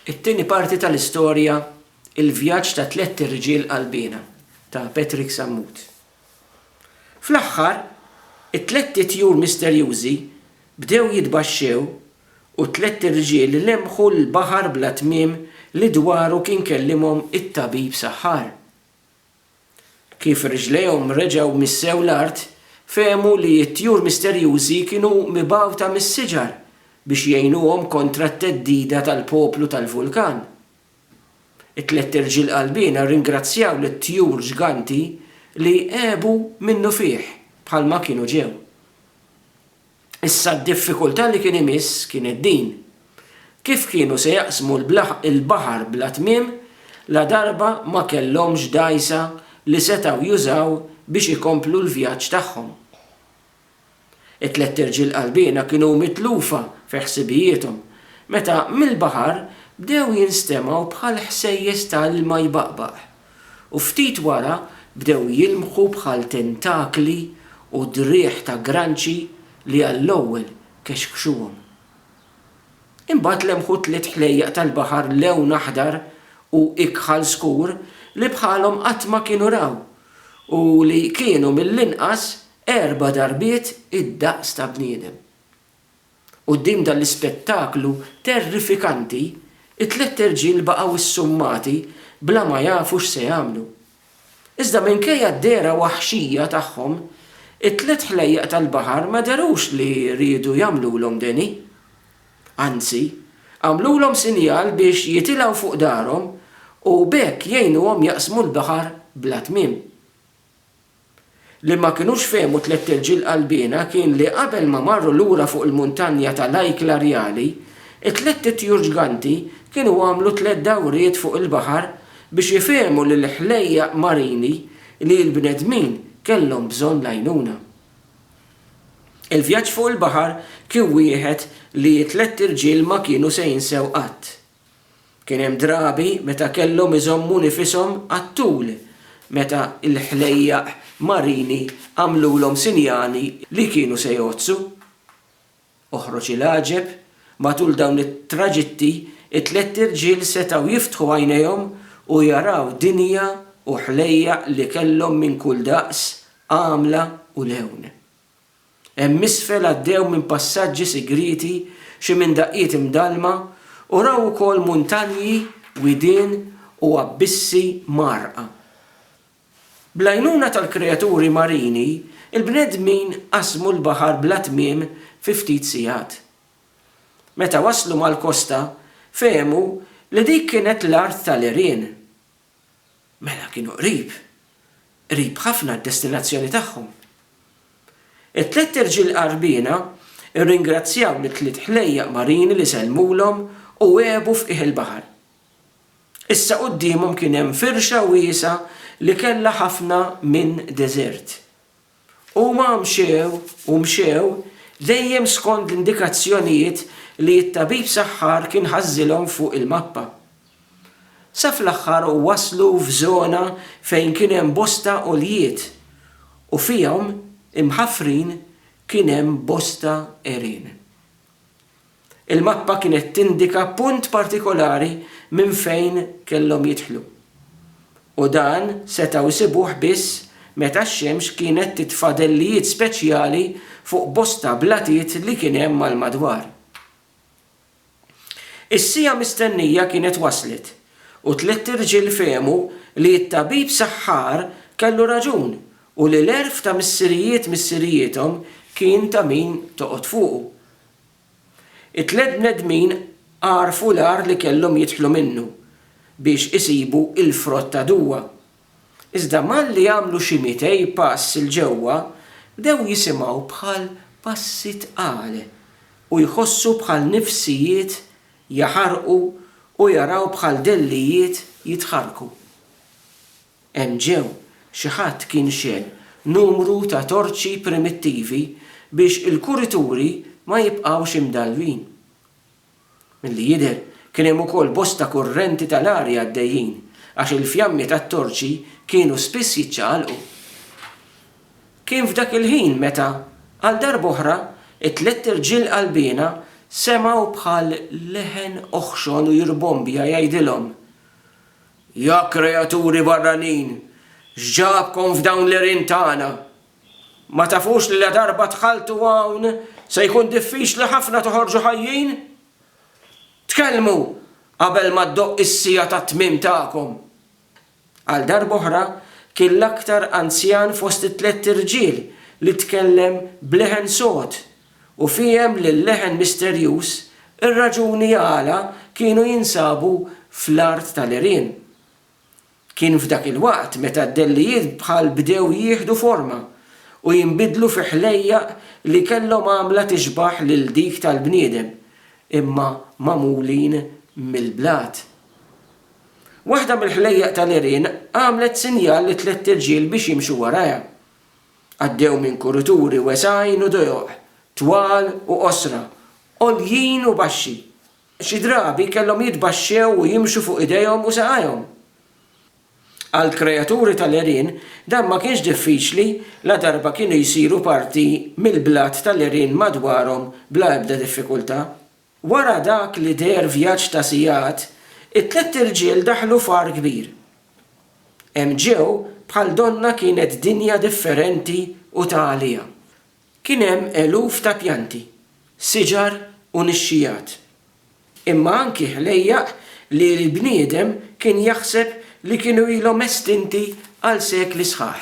It-tieni parti tal-istorja Il-vjaġġ ta' tlett irġiel qalbiena ta' Patrick Sammut. Fl-aħħar, it-tlett itjur misterjużi bdew jitbaxxew u t-tlett irġiel lemmħu l-baħar bla tmiem li dwaru kien kellimhom it-tabib saħħar. Kif riġlejhom reġgħu missew l-art, fehmu li t-tjur misterjużi kienu mibgħuta mis-siġar biex jgħinuhom kontra t-theddida tal-poplu tal-vulkan. It-tliet irġiel qalbiena rringrazzjaw lit-tjur ġganti li għebu minnufih bħalma kienu ġew. Issa d-diffikultà li kien imiss kienet din, kif kienu se jaqsmu l-baħar bla tmiem ladarba ma kellhomx dgħajsa li setgħu jużaw biex ikomplu l-vjaġġ tagħhom. It-tlett irġiel qalbiena kienu mitlufa fi ħsibijiethom meta mill-baħar bdew jinstemgħu bħal ħsejjes ta' ilma jbaqbaq. u ftit wara bdew jilmħu bħal tentakli u driegħ ta' granċi li għall-ewwel kexkxuhom. Imbagħad lemħu tliet ħlejjaq tal-baħar lewn aħdar u ikħal skur li bħalhom qatt ma kienu raw u li kienu mill-inqas erba' darbiet id-daqs ta' bniedem. Quddiem dan l-ispettaklu terrifikanti, it-tlett irġiel baqgħu issummati bla ma jafu x'se jagħmlu. Iżda minkejja d-dehra waħxija tagħhom, it-tlett ħlejjaq tal-baħar ma dherux li riedu jagħmlulhom deni. Anzi, għamlulhom sinjal biex jitilgħu fuq darhom u b'hekk jgħinuhom jaqsmu l-baħar bla tmiem. Li ma kinux fehmu tlett irġiel qalbiena kien li qabel ma marru lura fuq il-muntanja ta' Lajkla Rjali, it-tlett itjur ġganti kienu għamlu tlett dawriet fuq il-baħar biex ifehmu lill-ħlejjaq marini li l-bnedmin kellhom bżonn l-għajnuna. Il-vjaġġ fuq il-baħar kien wieħed li t-tlett irġiel ma kienu se jinsew qatt. Kien hemm drabi meta kellhom iżommu nifishom għat-tul meta l-ħlejjaq marini għamlulhom sinjali li kienu se jgħoddsu. Oħroġ il-għaġeb, matul dawn it-traġitti t-tlett irġiel setgħu jiftħu għajnejhom u jaraw dinja u ħlejjaq li kellhom minn kull daqs, għamla u lewn. Hemm isfel għaddew minn passaġġi sigrieti xi minn daqqiet imdallma u raw ukoll muntanji, widien u abbissi mgħarrqa. Bl-għajnuna tal-kreaturi marini, il-bnedmin qasmu l-baħar bla tmiem fi ftit sigħat. Meta waslu mal-kosta, fehmu li dik kienet l-art tal-għerien. Mela kienu qrib, qrib ħafna għad-destinazzjoni tagħhom. It-tlett irġiel qarbiena rringrazzjaw lit-tliet ħlejjaq marini li sellmulhom u għebu f'qiegħ il-baħar. Issa quddiemhom kien hemm firxa wiesgħa li kellha ħafna minn deżert. Huma mxew u mxew, dejjem skond l-indikazzjonijiet li t-tabib saħħar kien ħażżilhom fuq il-mappa. Sa fl-aħħar waslu f'żona fejn kien hemm bosta għoljiet u fihom, imħaffrin, kien hemm bosta għerien. Il-mappa kienet tindika punt partikolari minn fejn kellhom jidħlu, u dan setgħu jsibuh biss meta x-xemx kienet titfa' dellijiet speċjali fuq bosta blatiet li kien hemm għall-madwar. Is-siegħa mistennija kienet waslet, u tliet irġiel fehmu li t-tabib saħħar kellu raġun u li l-għerf ta' missirijiet missirijiethom kien ta' min toqgħod fuqu. It-tliet bnedmin għarfu l-għar li kellhom jidħlu minnu biex isibu l-frott ta' Dua. Iżda malli għamlu xi mitej pass 'il ġewwa, bdew jisimgħu bħal passi tqal u jħossu bħal nifsijiet jaħarqu u jaraw bħal dellijiet jitħarrku. Hemm ġew, xi ħadd kien xegħel numru ta' torċi primittivi biex il-kurituri ma jibqgħux imdallwin. Milli jidher, kien hemm ukoll bosta kurrenti tal-arja għaddejjin għax il-fjammi tat-torċi kienu spiss jiċċaqalqu. Kien f'dak il-ħin meta, għal darb'oħra, it-tlett irġiel qalbiena semgħu bħal leħen oħxon u jirbombja jgħidilhom, Ja kreaturi barranin, x'ġabkom f'dawn l-għerien tagħna? Ma tafux li ladarba dħaltu hawn se jkun diffiċli ħafna toħorġu ħajjin? Tkellmu qabel ma ddoqq is-siegħa tat-tmiem tagħkom! Għal darba oħra kien l-aktar anzjan fost it-tlett irġiel li tkellem b'leħen sod u fiehem lil-leħen misterjuż, ir-raġuni għala kienu jinsabu fl-art tal-għerien. Kien f'dak il-waqt meta d-dellijiet bħal bdew jieħdu forma u jinbidlu fi ħlejjaq li kellhom għamla tixbah lil dik tal-bniedem, imma magħmulin mill-blat. Waħda mill-ħlejjaq tal-għerien għamlet sinjal li tlett irġiel biex jimxu warajha. Għaddew minn kurituri wesgħin u dojoq, twal u qosra, għoljin u baxxi. Xi drabi kellhom jitbaxxew u jimxu fuq idejhom u saqajhom. Għall-kreaturi tal-għerien dan ma kienx diffiċli ladarba kienu jsiru parti mill-blat tal-għerien madwarhom bla ebda diffikultà. Wara dak li deher vjaġġ ta' sigħat, it-tlett irġiel daħlu f'għar kbir. Hemm ġew bħal donnha kienet dinja differenti u ta' għaliha. Kien hemm eluf ta' pjanti, siġar u nixxigħat. Imma anki ħlejjaq li l-bniedem kien jaħseb li kienu ilhom estinti għal sekli sħaħ.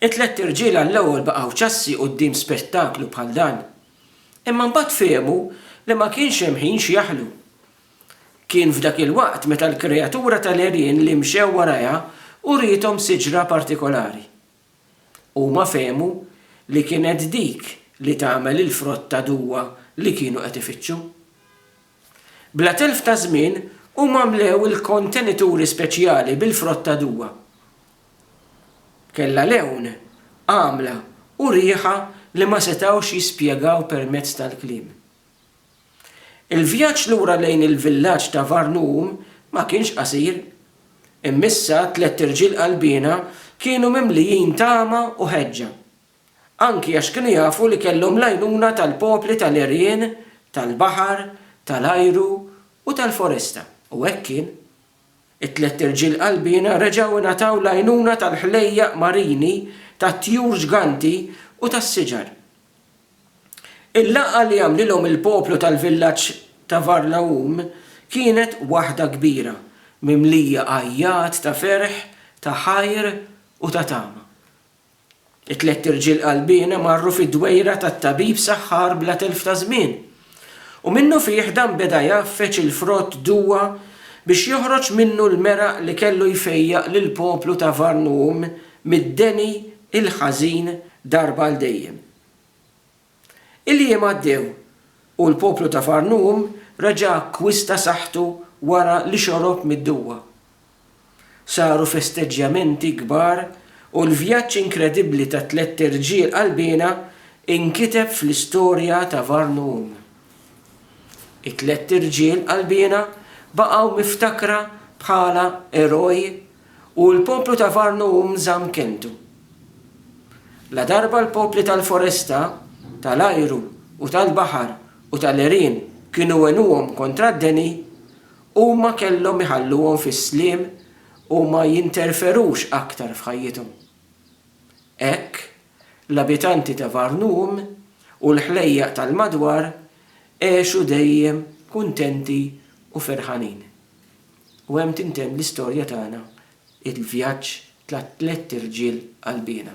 It-tlett irġiel għall-ewwel baqgħu ċassi quddiem spettaklu bħal dan. Imma mbagħad fehmu li ma kienx hemm ħin x'jaħlu. Kien f'dak il-waqt meta l-kreatura tal-għerien li mxew warajha uriethom siġra partikolari. Huma fehmu li kienet dik li tagħmel il-frott ta' duwa li kienu qed ifittxu. Bla telf ta' żmien, huma mlew il-kontenituri speċjali bil-frott ta' Dua. Kellha lewn, għamla, u riħa li ma setgħux jispjegaw permezz tal-kliem. Il-vjaġġ lura lejn il-villaġġ ta' Varnuum ma kienx qasir. Imma issa t-tlett irġiel qalbiena kienu mimlijin tama u ħeġġa. anki għax kienu jafu li kellhom l-għajnuna tal-popli tal-għerien, tal-baħar, tal-ajru u tal-foresta. U hekk kien. It-tlett irġiel qalbiena reġgħu ngħataw l-għajnuna tal-ħlejjaq marini, tat-tjur ġganti u tas-siġar. Il-laqgħa li għamlilhom il-poplu tal-villaġġ ta' Varlaum kienet waħda kbira, mimlija għajjat ta' ferħ, ta' ħajr u ta' tama. It-tlett irġiel qalbiena marru fid-dwejra tat-tabib saħħar bla telf ta' żmien. U minnufih dan beda jgħaffeġ il-frott duwa biex joħroġ minnu l-meraq li kellu jfejjaq lill-poplu ta' Varnum mid-deni il-ħażin darba għal dejjem. Il-jiem għaddew u l-poplu ta' Far Noom reġa' akkwista saħħtu wara li xorob mid-duwa. Saru festeġġjamenti kbar u l-vjaġġ inkredibbli ta' tlett irġiel qalbiena inkiteb fl-istorja ta' Var Noom. It-tlett irġiel qalbiena baqgħu miftakra bħala eroj U l-poplu ta' Varnu hu mżamm kelmtu. Ladarba l-popli tal-foresta, tal-ajru u tal-baħar u tal-għerien kienu għenuhom kontra d-deni, huma kellhom iħalluhom fis-sliem u ma jinterferux aktar f'ħajjithom. Hekk, l-abitanti ta' Varnu hu u l-ħlejjaq tal-madwar għexu dejjem kuntenti u ferħanin. U hemm tintemm l-istorja tagħna, il-vjaġġ ta' tlett irġiel qalbiena.